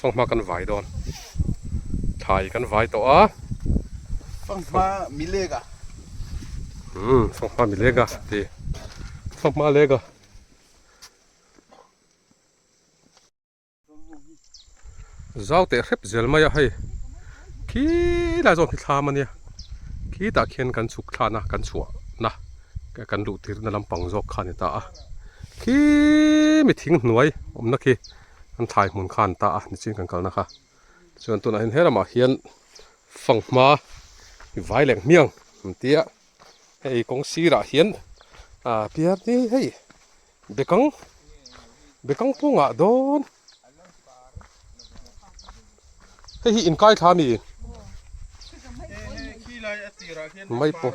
Fanghma kan vai dawn. Thai kan vai tawh a. Fanghma milega. Hmm, fanghma milega ti. Fanghma lega. Zau te hrep zel mai a hei. Khi la zong khi thlam ania. Khi ta khian kan chuk thlana kan chhuah na. Kan luh tirna lampang zawk kha a ni ta a, khi mi thing hnuai awmna khi an thlai hmun kha a ni ta a, nichin kan kalna kha. Tichuan tunahhin he lamah hian fanghma i vai leng hmiang kan tia, hei kawng sirah hian aaa piarte hei bekang bekang pawngah dawn hei hi inkaithla a ni mai pawh.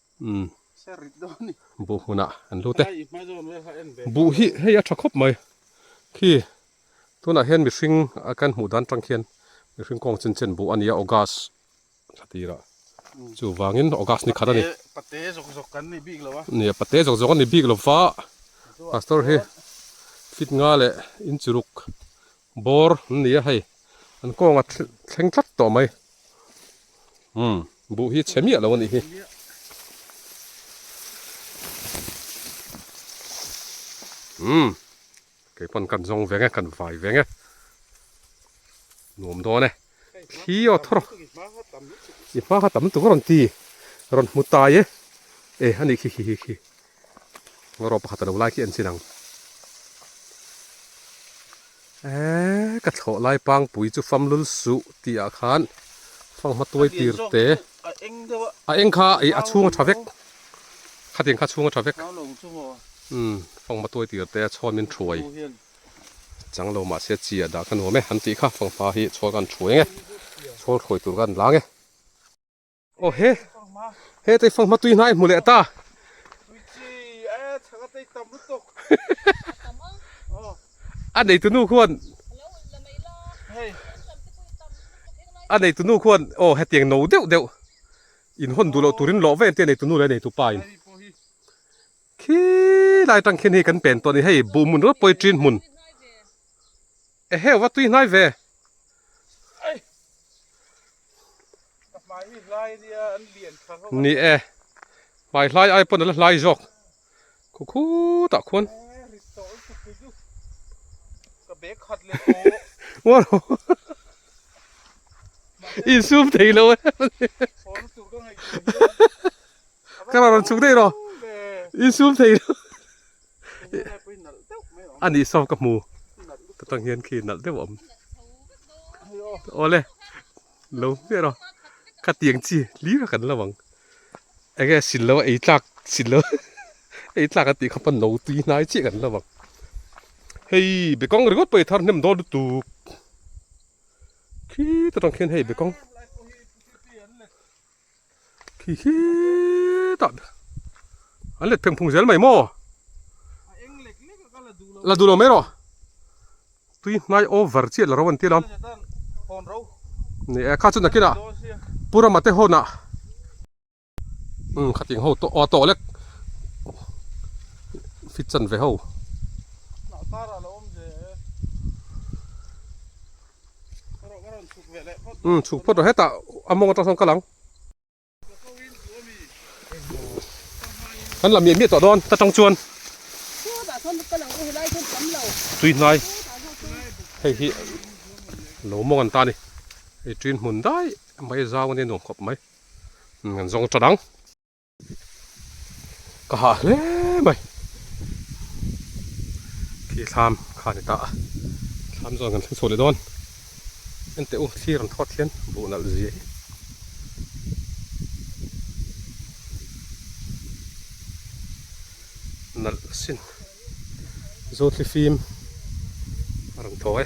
Umm. Buh hmunah an lu te. Buh hi hei a tha khawp mai. Khi tunah hian mihring a kan hmuh dan tang khian mihring kawng chen chen buh a nia August thla tirah. Chuvangin August ni khat a ni. Pate zawk zawk kan ni bik lo a. Nia pate zawk zawk a ni bik lo va. Pastor hi fit nga leh inchuruk Bawr an ni a hei, an kawng a thleng tlat tawh mai. Umm, buh hi chhe miah lo a nih hi. Umm, kei pawn kan zawng ve nge, kan vai ve nge. Nuam dawn e. thli aw thaw rawh i hmanga tam tak a rawn ti rawn hmu tai e e a nih khi khi khi khi ngarawh pakhat a lo like hi an chin ang eee ka thlawh lai pangpui chu famlul suh tih ah khan fanghma tuai tir te a eng kha ih a chhung a tha vek khatin kha chhung a tha vek umm fanghma tuai tir te a chhuamin thruai. Changlo mahse chi a dah ka nuam e, an tih kha fang hma hi chhual kan thu eng e, chhual thawih tur kan lang e. Aw he, he tei fang hma tui hna i hmu leh ta. Tui chi a e, chhanga tei tam lutuk. A tam a. Aw. A nei tunu khuan. A lo awlh la mai la. Hei. An tam te pawhin tam lutuk heng lai. A nei tunu khuan, aw hetiang no deuh deuh. Inhawn duh loh turin lawh ve eng te a nei tunu leh a neitu pa in. Khi lai tang khian hei kan pen tawh a ni hei, buh hmun rawt pawh hi ṭin hmun e heu va tui hnai ve. Ni e, hmai hlai ai pawn a la hlai zawk khukhut ah khuan. Insum theilo e. Ka rawn chhuk daih rawh. I sum thei lo. A nih saw ka hmu. Chutang hian khi nalh deuh a awm. Aw le. Lo hmiah rawh. Ka tiang chi hlir a kan lo ang. Eng nge sin lo a ei tlak sin lo. Ei tlak a tih kha pawn lo tui hnai chiah kan lo ang. Hei bekawng ringawt pawh i thar hnem dawn lutuk. Khi ta tang khian hei bekawng. khi khi tah an let phengphung zel mai maw a eng lek lek a ka la duh lo la duh lo mai erawh tui hnai over chiah loh an ti lo ni e kha chu nakinah purama te hawnah um khatin ho tawh aw tawh lek fit chan ve ho hnah kar ah a la awm ve. Umm chhuk phawt loh hetah a mawng atang sawn ka lang. Kan la miah miah tawh dawn ta tang chuan. Tui hnai. Hei hi lo mawng an ta ni. Hei tui hmun dai mai zau a ni nuam khawp mai. Umm an zawng ta dang. ka hah hle mai khi thlam kha ni ta a thlam zawk kan thleng chhuah leh dawn ente u thlir an thawt hian buh nalh zia hi nalh sin zawtli fim a rawn thaw e.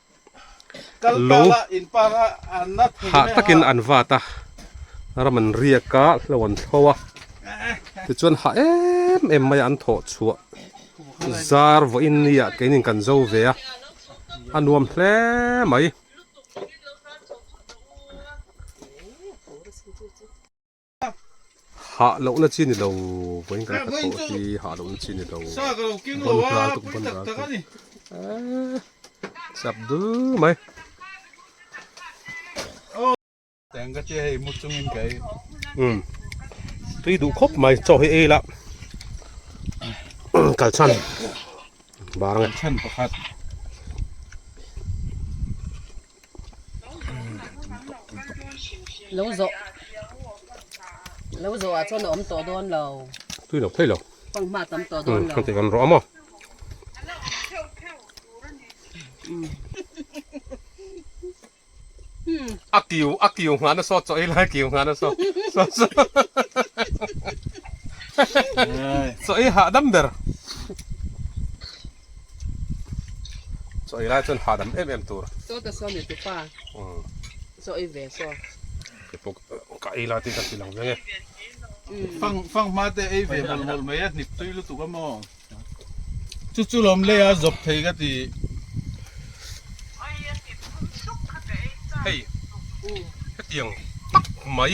Lu hah takin an vat a, ram an riak a, hlo an thlo a, tichuan hah em em maiah an thawh chhuah zar vawi in ni ah keinin kan zo ve a, a nuam hle mai. Hah loh na chi ni lo vawiin ka la khat pawh hi hah loh na chi ni lo. Vawn ral tuk vawn ral tuk. Chap dul mai. Teng ka tia hei mu chung in kai. Um. Tui duh khawp mai chaw hi ei la. Kal chan. Bar nge. Chan pakhat. lo zawh lo zawh ah chuan a awm tawh dawn lo tui lo phei lo pang hma tam tawh dawn lo heti kan rawh a maw a kiu a kiu nghana saw chaw i lai kiu nghana saw saw saw chaw i hah dam ber Sawi lai chuan hahdam em em tur. Saw ta saw mitu pa. Umm. Saw i ve saw. Kepawk ka ei lai tih ka ti lang veng e. Fang fang hma te ei ve hawlh hawlh mai a hnip tui lutuk a maw. Chu chu lawm lei a zawp thei ka ti. Hei hetiang tak mai.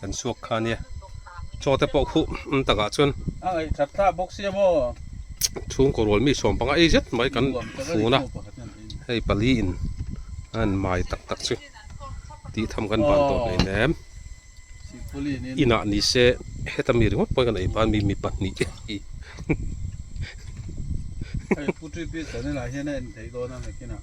kan suak kha nia chaw te pawh khuh um tak ah chuan ai that thla bawk sia maw chhung kaw rual mi sawm panga ei zet mai kan fun a hei pali in a han mai tak tak chu tih tham kan ban tawh hlei hlem inah ni se heta mi ringawt pawh kan ei ban mi mi pahnih te hi hei pu tui pi chhan elah hian a en thei dawn a nakin ah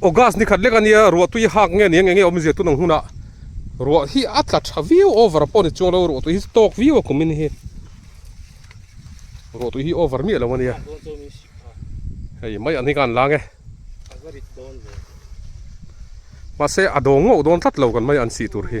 August nikhat lek a nia, ruah tui a hak nge nia, eng enge awm zia tun ang hunah ruah hi a tla tha viau over a pawh ni chuang lo, ruah tui hi chu tawk viau a kum i ni hi. Ruah tui hi over miah lo a nia. Hei mai an hi khan la nge. Mahse a dawng ngawh dawn tlat lo kan mai an sih tur hi.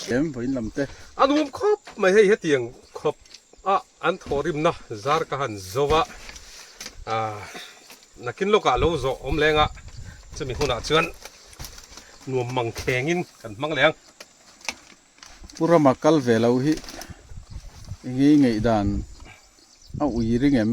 Thiam vawiin lam te. A nuam khawp mai hei hetiang khawp a an thaw rim na zar ka han zo va nakin lawk ah lo zawh awm leng a chumi hun ah chuan nuam mang kheng in kan hmang leng Pu Rama kal ve lo hi engei ngeih dan a ui ring em?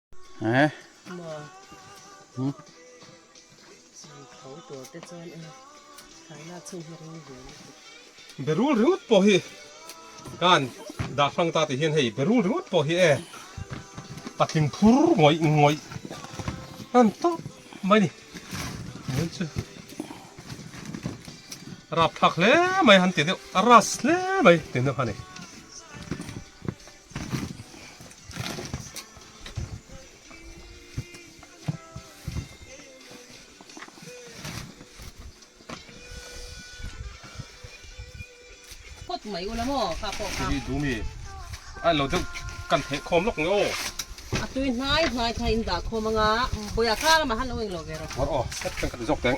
Berul ringawt pawh hi khan dah hlang ta tih hian hei berul ringawt pawh hi e patling phur ngawih ngawih hlan tawp mai a ni. Mei chu rap thlak hle mai han ti deuh, a ras hle mai ti deuh a ni. phawt mai u la maw kha pawh kha hi du mi ai lo deuh kan theh khawm lawk nge aw a tui hnai hnai kha in dah khawm anga boya kha lama han lo eng lo ve rawh awr aw hek kan ka ti zawk teng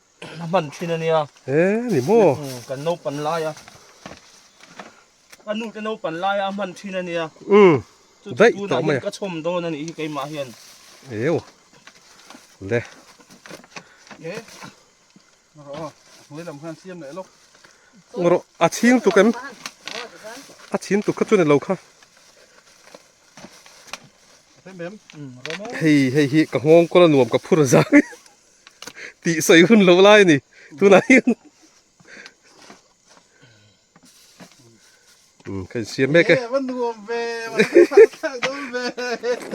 a hman thin ania he ni maw kan naupan laia ka nu te naupan laia a hman thin ania um daih tawh mai ka chhawm dawn ani hi keimah hian eu le e ro a hnuai lam khan siam leh lawk ro a chhing tuk em a chhin tuk kha chu ni lo kha hei hei hi ka nghawng kawla nuam ka phur zang tih sawi hun loh lai a ni tunah hian kan siam mek e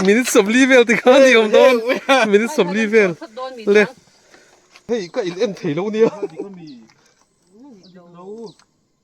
minute sawmli vel ti kha ni awm dawn minute sawmli vel le hei ka in en thei lo nia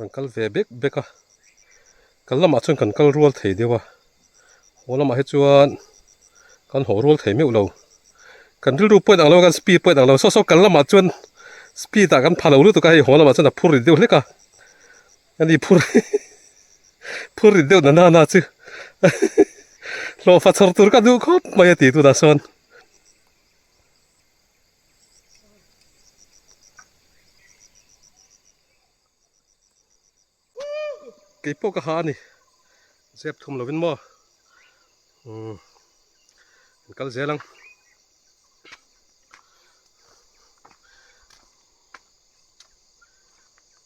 Kan kal ve bek bek a, kal lamah chuan kan kal rual thei deuh a, haw lamah hi chuan kan haw rual thei meuh lo, kan rilru pawit ang lo a, kan speed pawit ang lo, saw saw kal lamah chuan speed ah kan pha lo lutuk a, hei haw lamah chuan a phur rit deuh hlek a, a ni phur phur rit deuh na nana chu hlawhfa chhawr tur ka duh khawp mai a ti tunah sawn. keipawh ka ha a ni zep thum lovin maw umm an kal zel ang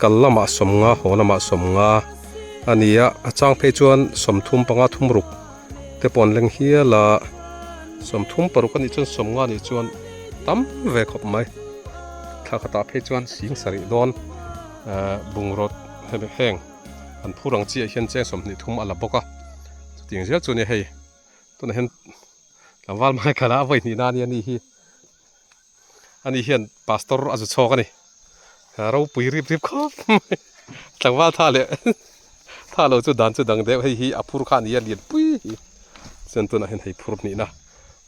Kal lama sawmnga haw lama sawmnga a ni a, a chang phei chuan sawmthum panga thum ruk te pawh an leng hial a. Sawmthum paruk a nih chuan sawmnga nih chuan tam ve khawp mai. Thla khatah phei chuan sing sarih dawn bungraw heng an phur ang chiah hian cheng sawmhnih thum a la bawk a. Chuting zel chu nia hei tunah hian tlangval hmai kala a vawi hnihna ania ni hi. Ani hian pastor a zu chhawk a ni. Ropui rip rip khawp mai. Tlangval tha leh tha lo chu dan chu dang deuh. Hei hi a phur kha a ni a, lian pui hi. Chuan tunah hian hei phur hnihna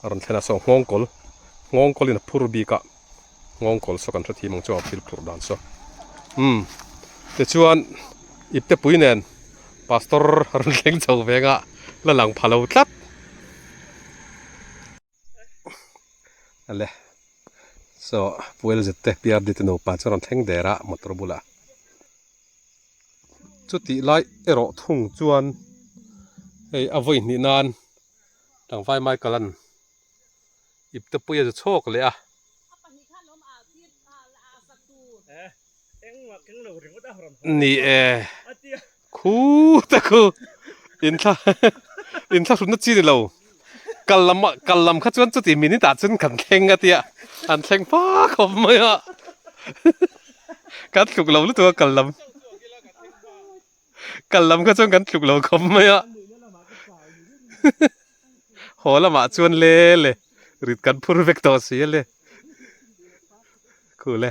a rawn thlen a. Saw nghawng kawl, nghawng kawlin a phur bik a. Nghawng kawl saw kan hre thim ang chuan a phil phurh dan saw. Umm, tichuan Iptepui nen pastor a rawn thleng chho veng a la lang pha lo tlat. Ale chaw puel zet te prd te nupa chuan an thleng der a motor bulah chutih lai erawh thung chuan hei a vawi hnih nan tlangvai michaelan iptepuia chu chhawk leh a ni e. Khu ta khu in thla in thla hrutna chi ni lo kal lam kal lam kha chuan chuti minute ah chuan kan thleng a tia an thleng pa khawp mai a kan thluk lo lutuk a kal lam kal lam kha chuan kan thluk lo khawp mai a haw lamah chuan le le rit kan phur vek tawh si a le khu le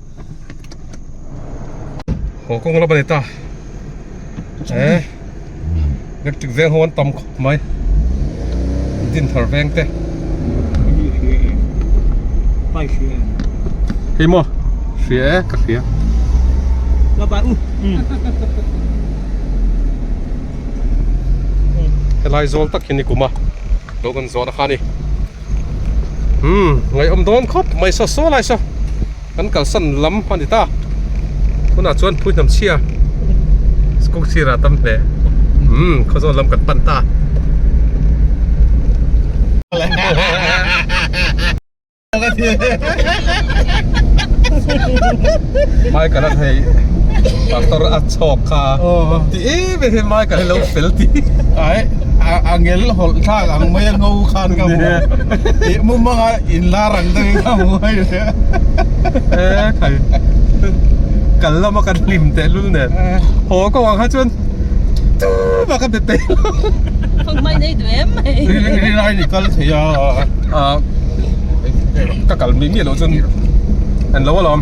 Haw kawng lam a ni ta. Eh. Electric zel ho an tam khawp mai. Din thar veng te. Pai hria em. Hei mo. Hria e ka hria. Ba ba u. Helai zol tak hi ni kuma. Lo kan zawh na kha ni. Umm ngaiawm dawn khawp mai saw saw lai saw kan kalsan lam a ni ta tunah chuan puihnam chhia school sirah a tam hle umm khaw zawk lam kan pan ta hahahaha. ve hian mai kan lo fel ti ai a ngel hawlh thlak ang mai a ngo khan ka hmu e mumang a in lar ang deuh hi ka hmu mai hle a e thai kal lama kan hlim tehlul nen haw ka vang kha chuan chu mah ka be peih lo mai nei duh em mai ri rai ni kal thei a a ka kal miah miah loh chuan an lo alawm.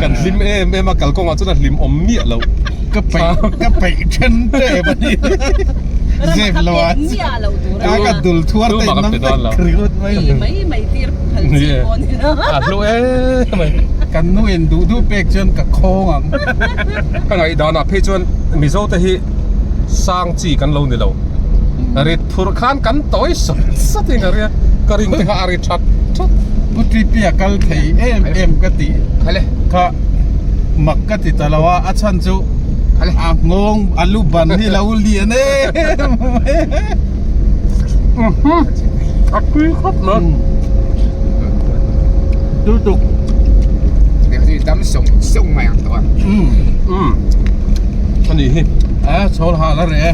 kan hlim em em a kal kawngah chuan a hlim awm miah loh ka peih ka peih then tep a nih zep lo a a ka dul thuar te nang te kriut mai lo mai mai tir phal chi pawh ni lo a hlu em mai kan nu in duh duh pek chuan ka khawng ang ka ngaih dan ah phei chuan mizo te hi sang chi kan lo ni lo rit Thur khan kan tawi sat sat in a ria, ka ring te kha a ri that that. Pu Titi a kal thei em em ka ti kha mak ka ti ta lo a, a chhan chu a nghawng a lu ban hi lo lian em mai a. Umhum a tui khawp lo. Chu chu. Hei hi dam sawng sawng mai ang tawh a. Umm umm a ni hi. A chhawlha la reh e.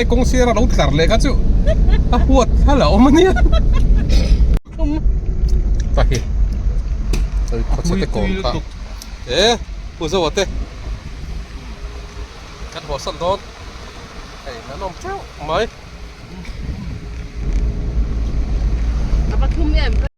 he kawng sir a lo tlar leh kha chu a huat hal a awm a nia ta hi oi khaw chhe te kawng kha e pu zo ate kan haw san dawn hei kan awm teuh mai.